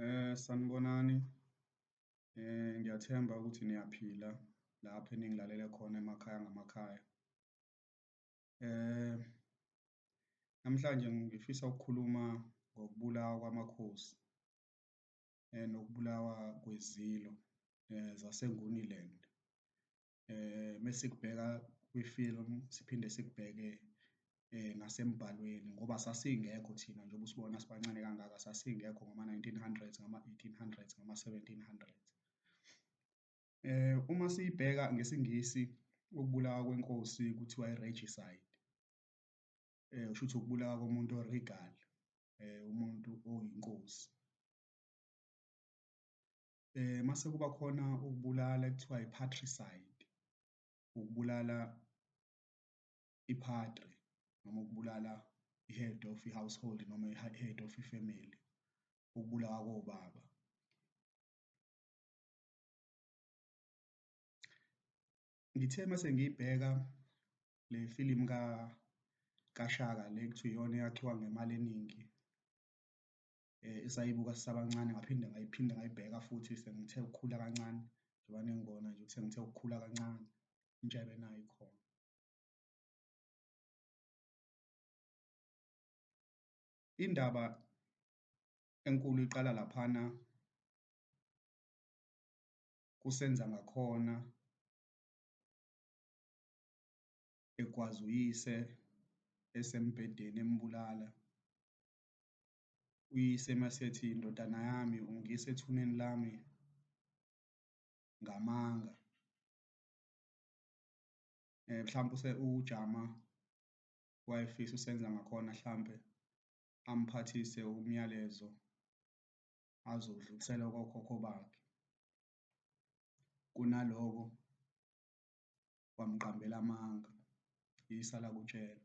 Eh sanibonani. Eh ngiyathemba ukuthi niyaphila lapho eningilalele khona emakhaya ngamakhaya. Eh namhlanje ngifisa ukukhuluma ngokubulawa kwamakhosi eh nokubulawa kwezilo eh zaseNguniland. eh mesikubheka kwi-film siphinde sikubheke eh nasembhalweni ngoba sasingekho thina njengoba usibona sibancane kangaka sasingekho ngama-1900s ngama-1800s ngama-1700s eh uma siyibheka ngesingisi ukubulawa kwenkosi kuthiwa i-regicide eh usho ukuthi ukubulawa komuntu o-regal eh umuntu oyinkosi eh mase kuba khona ukubulala kuthiwa i-patricide ukubulala i-padre noma ukubulala i-head of i-household noma i-head of i-family ukubulawa kobaba ngithe mase ngiyibheka le film ka kaShaka le kuthiwa iyona eyakhiwa ngemali eningi eh, esayibuka sisabancane ngaphinde ngayiphinde ngayibheka futhi sengithe ukukhula kancane njengoba nengibona nje ukuthi sengithe ukukhula kancane intsha ebenayo ikhona indaba enkulu iqala laphana kusenza ngakhona egwaza uyise esembhedeni embulala uyise masethi indodana yami ungiyisa ethuneni lami ngamanga eh mhlawumbe use ujama wayefisa usenza ngakhona mhlambe amphathise umyalezo azodlulisela kokhokho bakhe kunaloko wamqambela amanga yisa lakutshela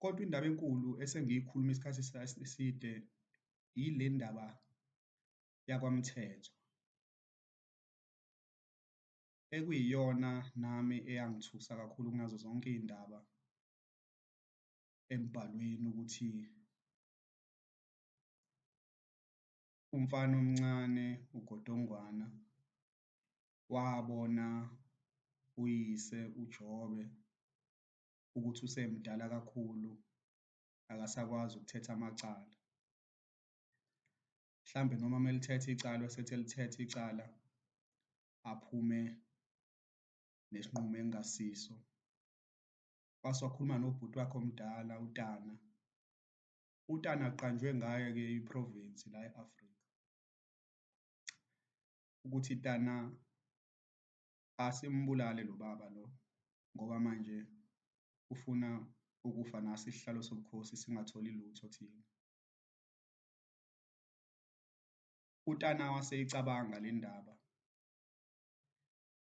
Kodwa indaba enkulu esengiyikhuluma isikhathi eside yile ndaba yakwaMthethwa, ekuyiyona nami eyangithusa kakhulu kunazo zonke iy'ndaba embhalweni ukuthi umfana omncane uGodongwana wabona uyise uJobe ukuthi usemdala kakhulu akasakwazi ukuthetha amacala. Mhlambe noma uma elithetha icala esethi elithetha icala aphume nesinqumo engasiso. Wase wakhuluma nobhuti wakhe omdala uTana. UTana kuqanjwe ngayo-ke i-province la e-Afrika ukuthi Tana asimbulale lo baba lo ngoba manje ufuna ukufa naso isihlalo sobukhosi singatholi lutho thina. UTana waseyicabanga le ndaba,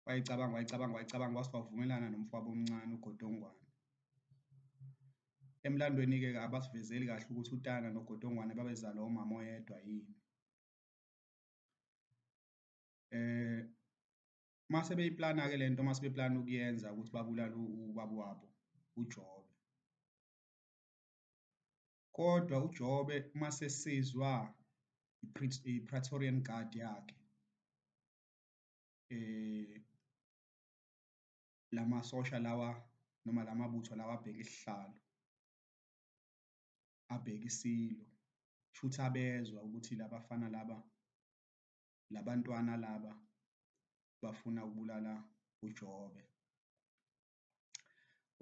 wayicabanga wayicabanga wayicabanga wase wavumelana nomfowabo omncane uGodongwane. Emlandweni-ke abasivezeli kahle ukuthi uTana noGodongwane babezalwa umama oyedwa yini. eh mase beyiplana ke lento mase beplana ukuyenza ukuthi babulale ubaba wabo uJobe kodwa uJobe mase sizwa iPraetorian Guard yakhe eh lamasosha lawa noma lamabutho lawa abheke isihlalo abheke isilo shuthi abezwa ukuthi labafana laba labantwana laba bafuna ukubulala uJobe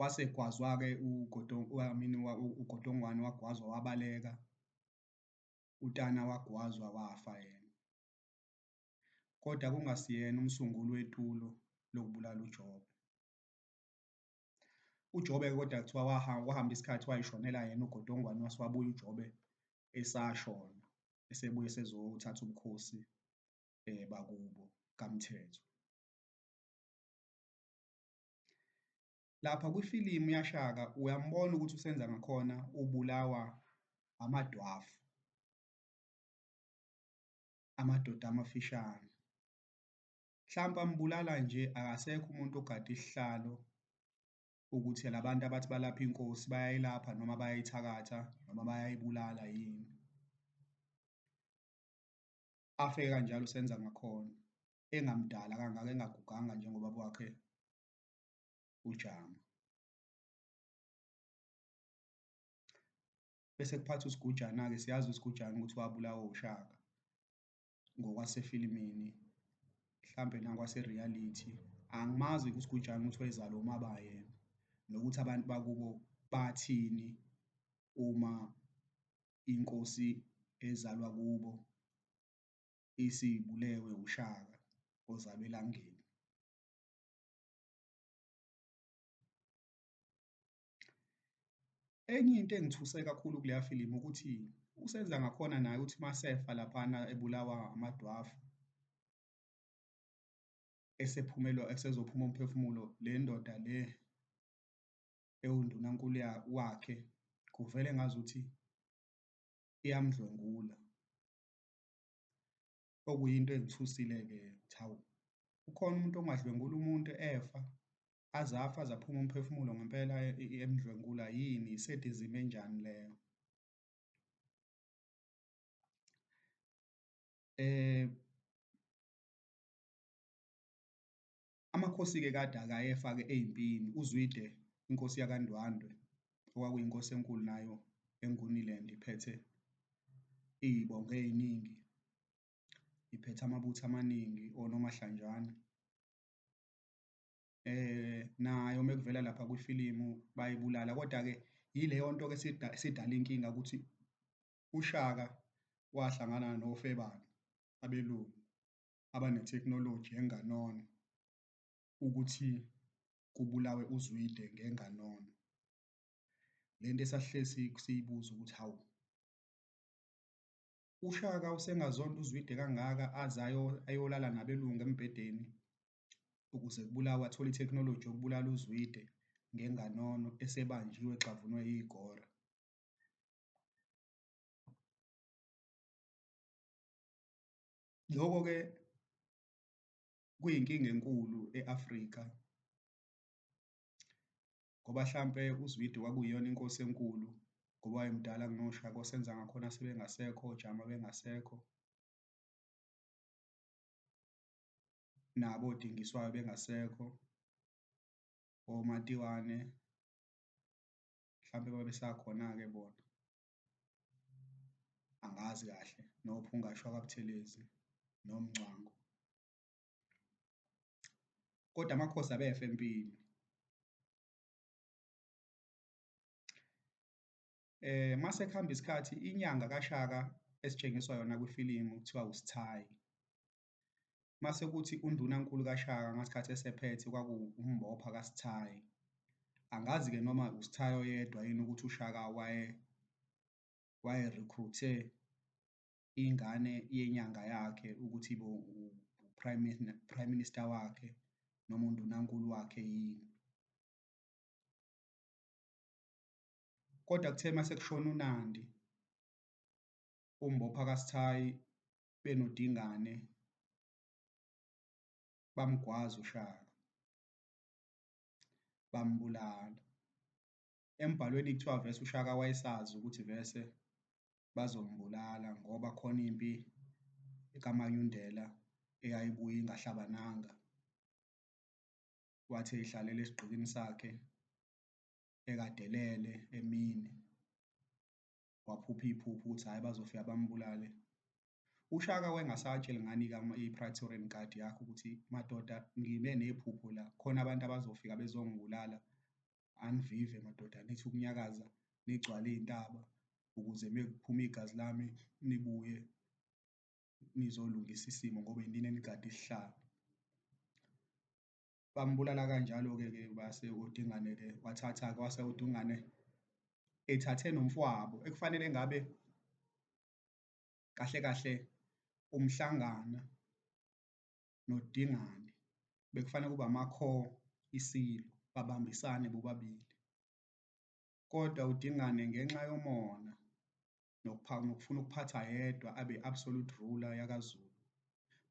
wase gwazwa-ke uGodongwamini uGodongwane wagwazwa wabaleka uTana wagwazwa wafa yena kodwa kungasiyena umsunguli wetulo lokubulala uJobe uJobe kodwa kuthiwa wahamba isikhathi wayishonela yena ugodongwane wase wabuya uJobe esashona esebuye esezothatha ubukhosi um bakubo kaMthetho. Lapha kwifilimu yaShaka uyambona ukuthi uSenza ngakhona ubulawa amadwafu, amadoda amafishane. Mhlampe ambulala nje akasekho umuntu ogada isihlalo ukuthi la bantu abathi balapha inkosi bayayilapha noma bayayithakatha noma bayayibulala yini. Afe kanjalo uSenza Makhona engamdala kangaka engaguganga njengobaba wakhe uJama. Bese kuphatha uSigujana-ke siyazi uSigujana ukuthi wabulawa uShaka. ngokwasefilimini mhlampe nakwase-reality angimazi kusigujana ukuthi wayezalwa umaba yena nokuthi abantu bakubo bathini uma inkosi ezalwa kubo isibulewe ushaka ozalwa elangeni. Enye into engithuse kakhulu kuleya filimu ukuthi uSenza ngakhona naye ukuthi masefa laphana ebulawa amadwafu esephumelwa esezophuma umphefumulo le ndoda le ewundunankulu wakhe kuvele ngazuthi iyamdlwengula okuyinto engithusile-ke ukuthi hawu ukhona umuntu ongadlwengula umuntu efa azafa zaphuma umphefumulo ngempela e, e, emdlwengula yini isedizimi enjani leyo eh amakhosi-ke kade akayefa-ke eyimpini uzwide inkosi yakandwandwe okwakuyinkosi enkulu nayo enguniland iphethe iyibonge eyiningi iphethe amabutho amaningi onomahlanjana eh nayo mekuvela lapha kwifilimu bayibulala kodwa ke yileyo nto ke sidala inkinga ukuthi uShaka wahlangana nofebane abelungu abanetechnology enganona ukuthi kubulawe uZwide ngenganono lento esahlezi siyibuza ukuthi hawu uShaka usengazonda uZwide kangaka aze ayolala nabelungu embhedeni ukuze kubulawe athole ithekhinoloji yokubulala uZwide ngenganono esebanjiwe exhavunwe yigora. Loko-ke kuyinkinga enkulu e-Afrika ngoba hlampe uZwide kwakuyiyona inkosi enkulu ngoba wayemdala kunoShaka osenza ngakhona sebengasekho, oJama bengasekho. nabo odingiswayo bengasekho omatiwane mhlampe babesakhona-ke bona angazi kahle nophungashwa kabuthelezi nomngcwango kodwa amakhosi abefe empini eh mase kuhamba isikhathi inyanga kaShaka esitshengiswa yona kwifilimu kuthiwa uSithayi Mase kuthi undunankulu kaShaka ngasikhathi esephethe kwaku uMbopha kaSithayi. Angazi-ke noma uSithayi oyedwa yini ukuthi uShaka waye waye-recruit-e ingane yenyanga yakhe ukuthi ibe u-prime prime minister wakhe noma undunankulu wakhe yini. Kodwa kuthe mase kushona uNandi, uMbopha kaSithayi benoDingane bamgwaza uShaka bambulala. Embhalweni kuthiwa vese uShaka wayesazi ukuthi vese bazombulala ngoba khona impi kaManyundela eyayibuye ingahlabananga. Wathi eyihlalela esigqikini sakhe ekadelele emini waphupha iphupho ukuthi hhayi bazofika bambulale ushaka wengasatsheli ngani i-praetorian guard yakho ukuthi madoda ngibe nephupho la khona abantu abazofika bezongibulala anivive madoda nithi ukunyakaza nigcwale iy'ntaba ukuze mekuphuma igazi lami nibuye nizolungisa isimo ngoba yinini enigade isihlalo bambulala kanjalo-ke ke base uDingane-ke wathatha-ke wase uDungane ethathe nomfwabo ekufanele ngabe kahle kahle umhlangana noDingane bekufanele kube amakho isilo babambisane bobabili kodwa uDingane ngenxa yomona nokufuna ukuphatha yedwa abe absolute ruler yakaZulu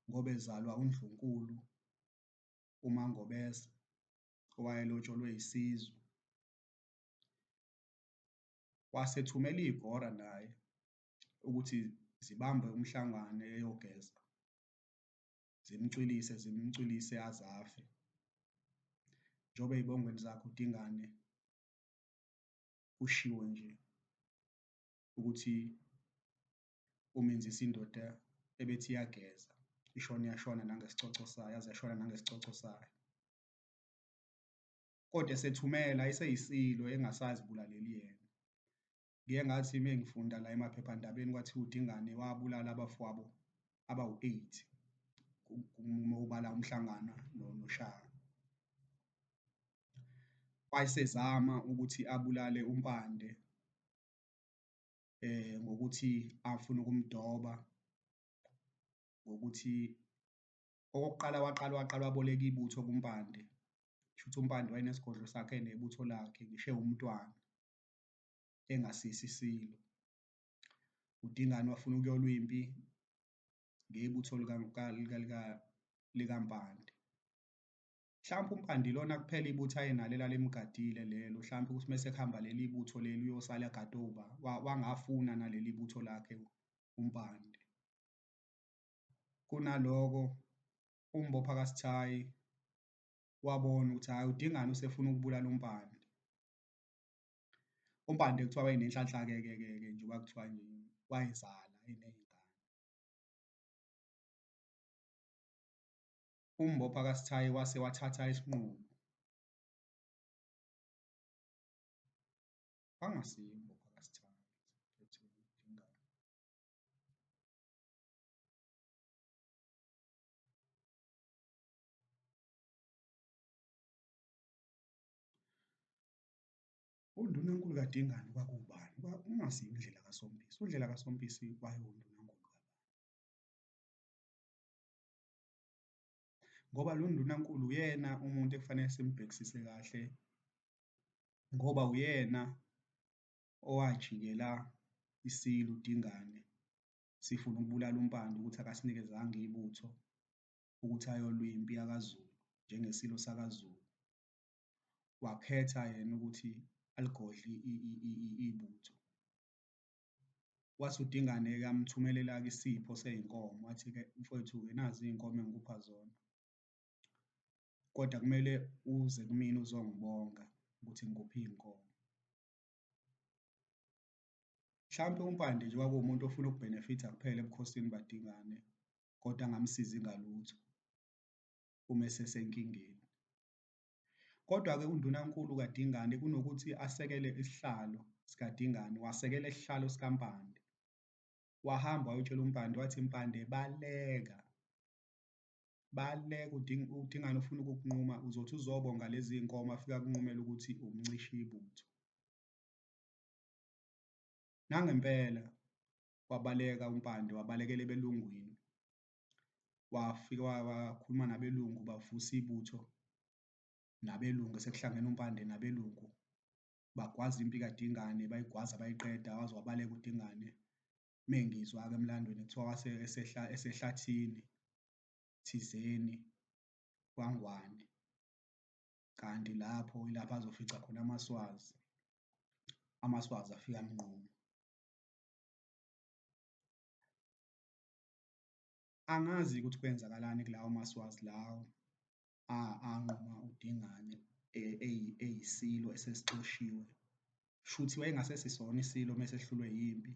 ngoba ezalwa uNdlunkulu uMaNgobese owayelotsholwe isizwe, wasethumela iy'gora naye ukuthi zibambe uMhlangane eyogeza, zimcwilise, zimcwilise aze afe. Njengoba ey'bongweni zakhe uDingane kushiwo nje ukuthi umenzisa indoda ebethi iyageza ishona yashona nangesicoco sayo yaze yashona nangesicoco sayo kodwa esethumela iseyisilo engasazibulaleli yena ngiye ngathi uma ngifunda la emaphephandabeni kwathiwa udingane wabulala abafowabo abawu-eight uma ubala umhlangana noshaka wayesezama ukuthi abulale umpande eh ngokuthi afuna ukumdoba ngokuthi okokuqala waqala waqala waboleka ibutho kuMpande shuthi uMpande wayenesigodlo sakhe nebutho lakhe ngishe umntwana engasisi isilo uDingane wafuna ukuyolwa impi ngebutho likaMpande Mhlawumbe uMpande ilona kuphela ibutho ayenalo elalimgadile lelo, mhlawumbe ukuthi mese kuhamba leli butho leli uyosala agade uba wangafuna naleli butho lakhe uMpande. Kunaloko uMbopha kaSithayi wabona ukuthi hhayi uDingane usefuna ukubulala uMpande. UMpande kuthiwa wayenenhlanhla-ke ke ke ke njengoba kuthiwa nje wayezala eney'ngane. umbopha kaSithayi wase wathatha isinqumo. Angasiyi umbopha kaSithayi undunankulu kaDingane kwakuwubani? Ungasiyi uNdlela kaSompisi. UNdlela kaSompisi wayewundunankulu. ngoba lo ndunankulu uyena umuntu ekufanele simbhekisise kahle ngoba uyena owajikela isilu dingane sifuna ukubulala umpande ukuthi akasinikezanga ibutho ukuthi ayolwa impi yakaZulu njengesilo sakaZulu wakhetha yena ukuthi aligodle ibutho Wathi uDingane-ke amthumelela-ke isipho sey'nkomo, wathi-ke mfwethu-ke nazi iy'nkomo engikupha zona, kodwa kumele uze kumina uzongibonga ukuthi ngikuphe iy'nkomo. Mhlampe uMpande nje kwakuwumuntu ofuna ukubhenefitha kuphela ebukhosini bukaDingane kodwa angamsizi ngalutho uma esesenkingeni. Kodwa-ke uNdunankulu kaDingane kunokuthi asekele isihlalo sikaDingane, wasekela isihlalo sikaMpande. Wahamba wayotshela uMpande wathi, Mpande baleka, baleka uDingane ufuna ukukunquma, uzothi uzobonga lezi iy'nkomo afike akunqumele ukuthi umncishe ibutho. Nangempela wabaleka uMpande, wabalekela ebelungwini, wafika wakhuluma nabelungu bavusa ibutho nabelungu sekuhlangene uMpande nabelungu bagwaza impi kaDingane bayigwaza bayiqeda waze wabaleka uDingane mengizwa-ke emlandweni kuthiwa wase esehla esehlathini thizeni kwangwane kanti lapho ilapho azofica khona amaswazi amaswazi afika amnquma Angazi ukuthi kwenzakalani kulawo maSwazi lawo anquma uDingane e, eyisilo esesixoshiwe. Shuthi wayengasese isona isilo uma esehlulwe yimpi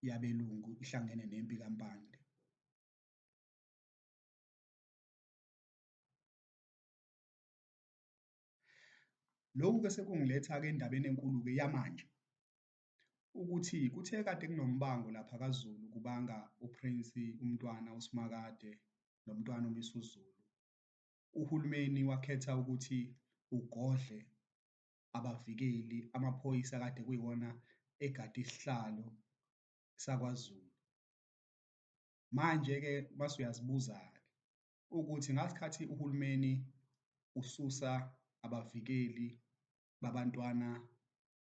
yabelungu ihlangene nempi kaMpande. Lokhu-ke sekungiletha-ke endabeni enkulu-ke yamanje. ukuthi kuthe kade kunombango lapha kaZulu kubanga uPrince uMntwana uSimakade noMntwana uMisuzulu. Uhulumeni wakhetha ukuthi ugodle abavikeli amaphoyisa kade kuyiwona egade isihlalo sakwaZulu. Manje-ke mase uyazibuza-ke ukuthi ngasikhathi uhulumeni ususa abavikeli babantwana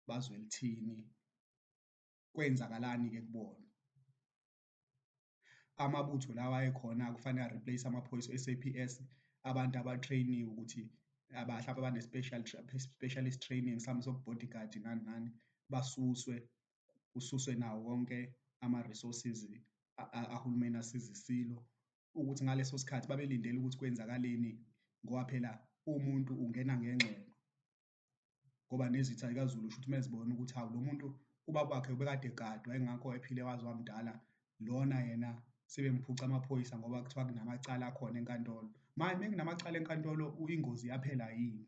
bazwe lithini kwenzakalani ke kubona amabutho lawa ekhona kufanele areplace amaphoyisa e-SAPS abantu abatrainiwe ukuthi abahlaba bane-special specialist training mhlawumbe sobu-bodyguard nani nani basuswe kususwe nawo wonke ama-resources ahulumeni asiza isilo ukuthi ngaleso sikhathi babelindele ukuthi kwenzakaleni ngoba phela umuntu ungena ngengxeno ngoba nezitha zikazulu usho ukuthi mezibona ukuthi hawu lo muntu ubaba wakhe ubekade egadwa engakho ephile waze wamdala lona yena sebemphuca amaphoyisa ngoba kuthiwa kunamacala akhona enkantolo manje uma kunamacala enkantolo ingozi yaphela yini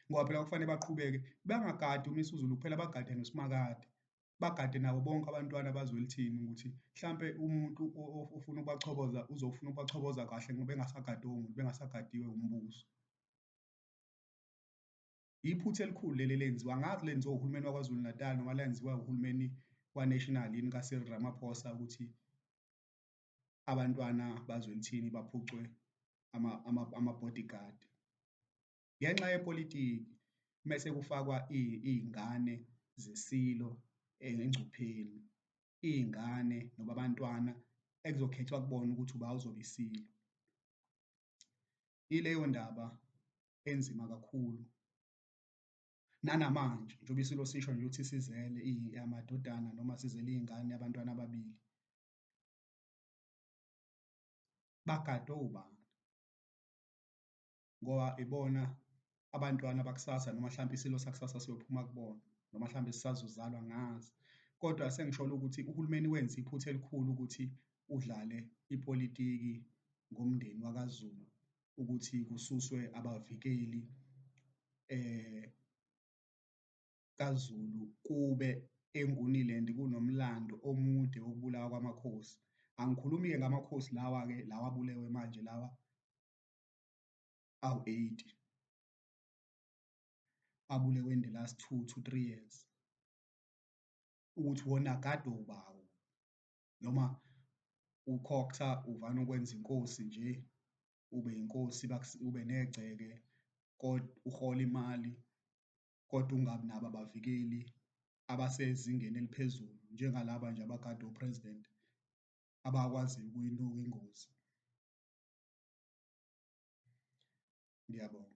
ngoba phela kufanele baqhubeke bangagadi uMisuzulu kuphela bagade noSimakade bagade nabo bonke abantwana bazwelithini ukuthi mhlampe umuntu ofuna ukubachoboza uzofuna ukubachoboza kahle ngoba engasagadiwe umuntu bengasagadiwe umbuso iphutha elikhulu leli lenziwa ngazi lenziwa uhulumeni waKwaZulu Natal noma lenziwa uhulumeni waNational yini kaSil Ramaphosa ukuthi abantwana bazwelithini baphucwe ama-bodyguard ama, ama ngenxa yepolitiki mese kufakwa iy'ngane zesilo engcupheni, iy'ngane noma abantwana ekuzokhethwa kubona ukuthi uba uzoba isilo. Ileyo ndaba enzima kakhulu nanamanje njengoba isilo sisho nje ukuthi sizele amadodana noma sizele iy'ngane abantwana ababili bagadwe ubani? ngoba ibona abantwana bakusasa noma mhlawumbe isilo sakusasa siyophuma kubona noma mhlawumbe sisazozalwa ngazi kodwa sengisholo ukuthi uhulumeni wenza iphutha elikhulu ukuthi udlale ipolitiki ngomndeni wakaZulu ukuthi kususwe abavikeli eh kaZulu kube enguniland kunomlando omude wokubulawa kwamakhosi angikhulumi-ke ngamakhosi lawa-ke lawa abulewe manje lawa awu-80 abulewe in the last two to three years, ukuthi wona kade ubawo noma ukhokhtha uvana ukwenza inkosi nje ube inkosi ube negceke kodwa uhola imali kodwa ungabi nabo abavikeli abasezingeni eliphezulu njengalaba nje abagade upresident abakwaziyo ukuyinuka ingozi. Ngiyabonga.